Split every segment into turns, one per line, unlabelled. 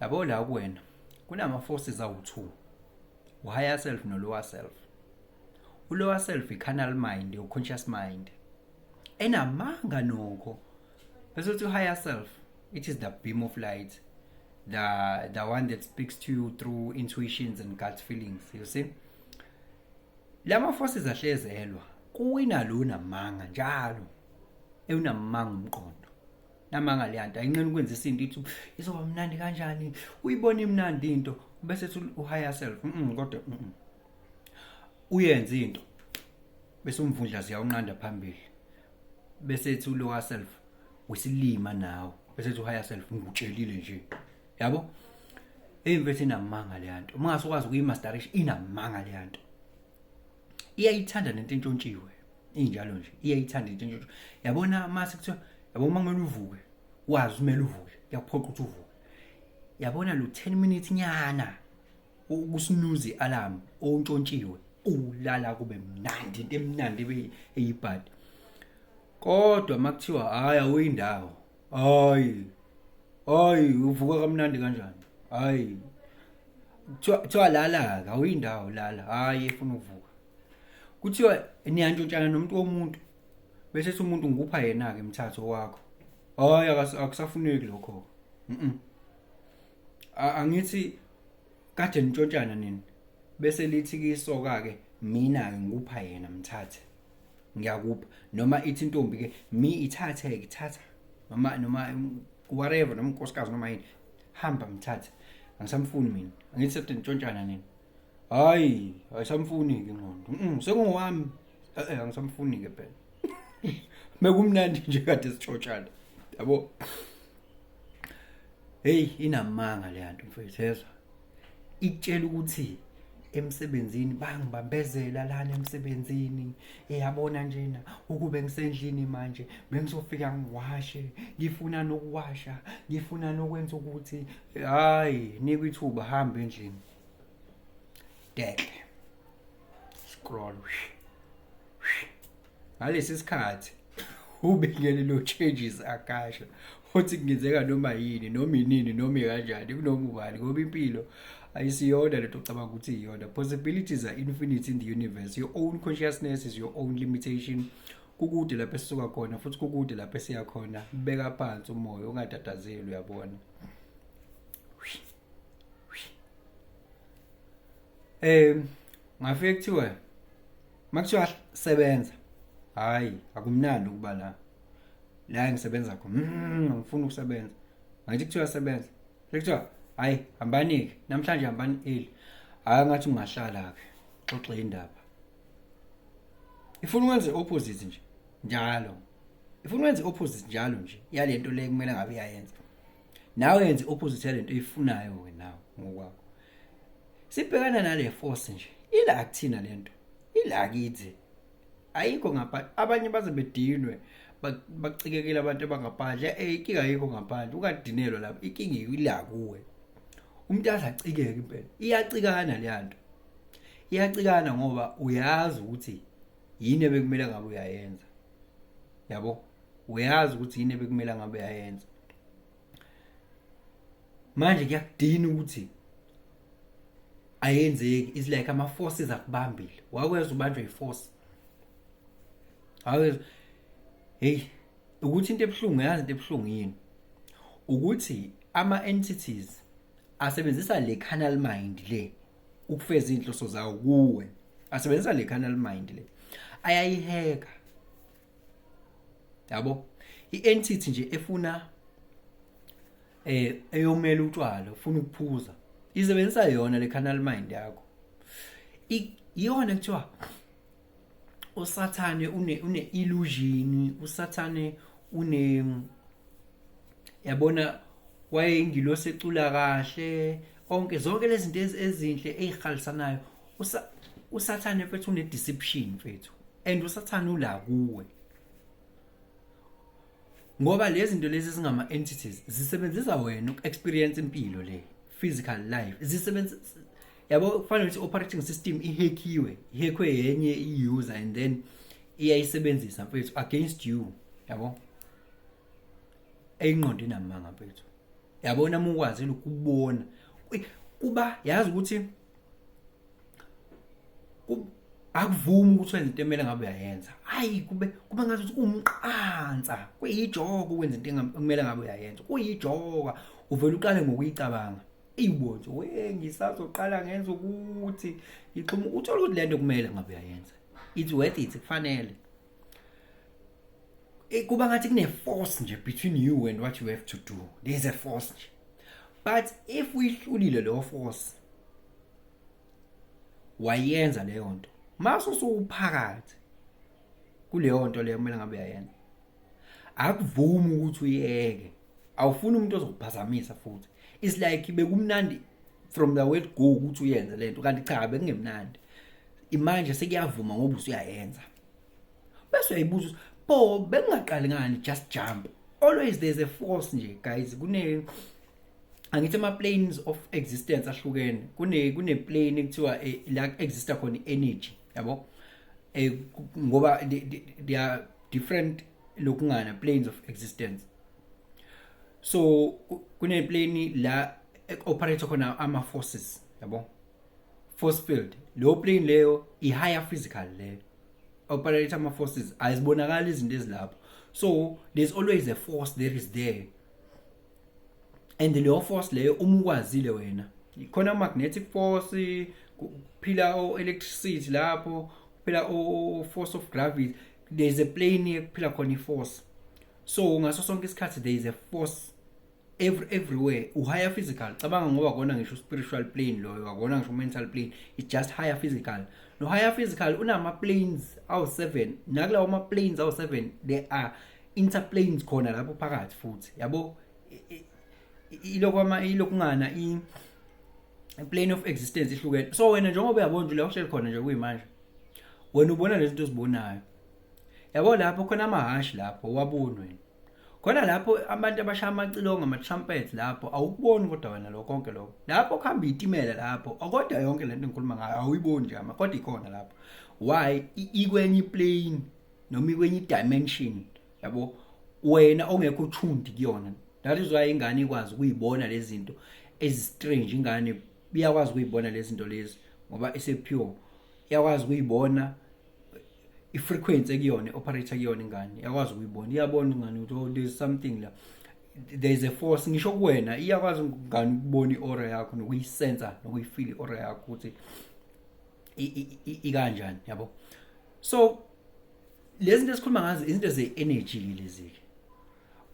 yabo la kuwena kunama forces awu2 uhigher self no lower self ulower self icanal mind your conscious mind enamanga nokho bese uthi higher self it is the beam of light the the one that speaks to you through intuitions and gut feelings you see lama forces ahlezelwa kuwina lona manga njalo ewunamanga umqondo namanga leya nto ayinqeni ukwenza isinto ithi izoba mnandi kanjani uyibona imnandi into bese ethi uhigher self mm kodwa mm uyenza into bese umvundla ziyawunqanda phambili bese ethi ulower self wesilima nawe bese ethi uhigher self ngikutshelile nje yabo eyimfethu inamanga leya nto uma ngase ukwazi ukuyimasterisha inamanga leya nto iyayithanda nento entshontshiwe injalo nje iyayithanda into nje yabona mase kuthiwa yabo uma kumele uvuke wazi kumele uvuke kuyaphoqa ukuthi uvuke yabona lo 10 minutes nyana ukusinuzi alarm ontshontshiwe ulala kube mnandi into emnandi eyibhadi kodwa makuthiwa hayi awuyindawo hayi hayi uvuka kamnandi kanjani hayi kuthiwa kuthiwa lala-ke awuyindawo lala hhayi efuna ukuvuka kuthiwa niyantshontshana nomuntu womuntu bese ethi umuntu ngikupha yena-ke mthatho wakho hhayi akas- akusafuneki lokho mm A- angithi kade nitshontshana nini bese lithi kisoka-ke mina-ke ngikupha yena mthathe ngiyakupha noma ithi intombi ke mi ithathe ke thatha noma noma whatever noma unkosikazi noma yini hamba mthathe angisamfuni mina angithi sethi ntshontshana nini hayi ayisamfuni ke ngqondo mm sengowami eh, eh angisamfuni ke phela mekumnandi nje kade sitshotshana yabo heyi inamanga le nto mfethu yezwa ikutshela ukuthi emsebenzini bangibambezela lana emsebenzini eyabona njena ukube ngisendlini manje bengizofika ngiwashe ngifuna nokuwasha ngifuna nokwenza ukuthi hayi nikwe ithuba hamba endlini dehle scroll ngalesi sikhathi ubekele lo changes akasha futhi kungenzeka noma yini noma inini noma kanjani kunoma ubani ngoba impilo ayisiyona lento ocabanga ukuthi iyona possibilities are infinite in the universe your own consciousness is your own limitation kukude lapho esisuka khona futhi kukude lapho esiya khona beka phansi umoya ungatatazeli uyabona um ngafike kuthiwa makuthiwa sebenza hayi akumnandi ukuba la la engisebenza khona mm, angifuni ukusebenza ngathi kuthiwa sebenza sekuthiwa hayi hambani-ke namhlanje hambani eli hayi ngathi ungahlala-ke xoxe indaba ifuna ukwenza i-opposite nje njalo ifuna ukwenza i-opposite njalo nje yale nto le kumele ngabe iyayenza nawe yenze opposite lento oyifunayo wena ngokwakho sibhekana nale force nje ila akuthina lento ila kithi ayikho ngaphandle abanye baze bedinwe bacikekile abantu abangaphandle eh ikinga ayikho ngaphandle ukadinelwa lapho ikinga ila kuwe umuntu azacikeke impela iyacikana le nto iyacikana ngoba uyazi ukuthi yini ebekumele ngabe uyayenza yabo uyazi ukuthi yini ebekumele ngabe yayenza manje kuyakudina ukuthi ayenzeki is like ama forces akubambile wakweza ubanjwe iforce awezwa hey ukuthi into ebuhlungu yazi into ebuhlungu yini ukuthi ama entities asebenzisa le canal mind le ukufeza inhloso zawo kuwe asebenzisa le canal mind le ayayiheka yabo i-entity nje efuna eh eyomela utshwala ufuna ukuphuza isebenzisa yona le canal mind yakho iyona kuthiwa usathane une une illusion usathane une yabona wayengilosi ecula kahle onke zonke lezi zinto ezinhle ezihalisanayo usathane mfethu une deception mfethu and usathane ula kuwe ngoba lezi zinto lezi zingama entities zisebenzisa wena uku experience impilo le physical life zisebenzisa yabo kufanele ukuthi operating system ihackiwe ihackwe yenye i-user and then iyayisebenzisa mfethu against you yabo eyinqondo inamanga mfethu yabona uma ukwazi ukubona kuba yazi ukuthi akuvumi ukuthi wenze into emele ngabe uyayenza hayi kube kuba ngathi ukuthi umqansa kuyijoko ukwenza into emele ngabe uyayenza kuyijoka uvele uqale ngokuyicabanga iwonje we ngisazoqala ngenza ukuthi ngixhuma uthola ukuthi lento kumele ngabe uyayenza it's worth it kufanele eh, kuba ngathi kune force nje between you and what you have to do there is a force nje but if uyihlulile leyo force wayenza leyo nto mase usuphakathi kuleyo nto leyo kumele ngabe uyayenza akuvumi ukuthi uyeke awufuni umuntu ozokuphazamisa futhi is like bekumnandi from the word go ukuthi uyenze lento kanti cha bekungemnandi imanje sekuyavuma ngoba usuyayenza bese uyayibuza bo bekungaqali ngani just jump always there's a force nje guys kune angithi ama planes of existence ahlukene kune kune plane ekuthiwa eh, la exista khona energy yabo eh ngoba they are different lokungana planes of existence so kune plane la operate khona ama forces yabo force field leyo plane leyo i higher physical leyo operate ama forces azibonakala izinto ezilapho so there's always a force there is there and leyo force leyo uma ukwazile wena khona magnetic force kuphila o electricity lapho kuphila o force of gravity there is a plane ekuphila khona iforce so ngaso sonke isikhathi there is a force every everywhere uhigher physical cabanga ngoba kona ngisho spiritual plane loyo akona ngisho mental plane it's just higher physical no higher physical unama planes awu 7 nakulawo ma planes awu 7 there are interplanes khona lapho phakathi futhi yabo ilokwa ma ilokungana i plane of existence ihlukene so wena njengoba uyabona nje uyakushela khona nje kuyimanje wena ubona lezi zinto ozibonayo yabo lapho khona amahashi lapho wabunwe khona lapho abantu abashaya amacilongo ama-trumpet lapho awukuboni kodwa wena lo konke lokho lapho kuhamba iyitimela lapho kodwa yonke le nto engikhuluma ngayo awuyiboni nje ama kodwa ikhona lapho why ikwenye iplane noma ikwenye idimension yabo wena ongekho uthundi kuyona that is why ingane ikwazi ukuyibona lezi zinto ezistrange ingane iyakwazi ukuyibona lezi zinto lezi ngoba isepure iyakwazi ukuyibona i-frequency ekuyona i-operator kuyona ingane iyakwazi ukuyibona iyabona ingane ukuthi oh there's something la there is a force ngisho kuwena iyakwazi ngani ukubona i-aura yakho nokuyisensa nokuyifila i-aura yakho ukuthi ikanjani yabo so lezi zinto esikhuluma ngazo izinto ze-energy lezi-ke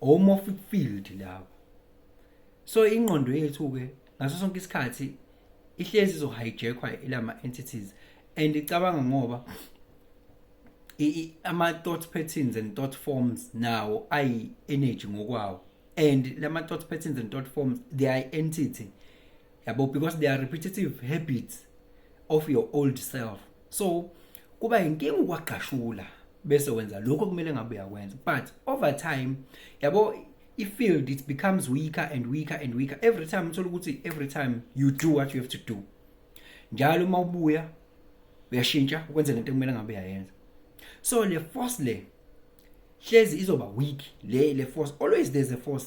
omorphic field lawo so ingqondo yethu-ke ngaso sonke isikhathi ihlezi izohijackwa ilama-entities and icabanga ngoba ama-thought patterns and thought forms nawo ayi-energy ngokwawo and lama-thought patterns and thought forms they are entity yabo because they are repetitive habits of your old self so kuba inkinga ukwagashula bese wenza lokho kumele ngabe uyakwenza but over time yabo i-field it becomes weaker and weaker and weaker every time uthola ukuthi every time you do what you have to do njalo uma ubuya uyashintsha ukwenza lento kumele ngabe uyayenza so le force le hlezi izoba weak le le force always there's a force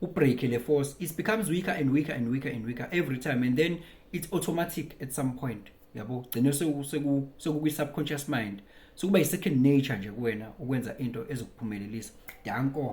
ubreak le force it becomes weaker and weaker and weaker and weaker every time and then it's automatic at some point yabo gcine sekukwi subconscious mind sokuba i second nature nje kuwena ukwenza into ezokuphumelelisa danko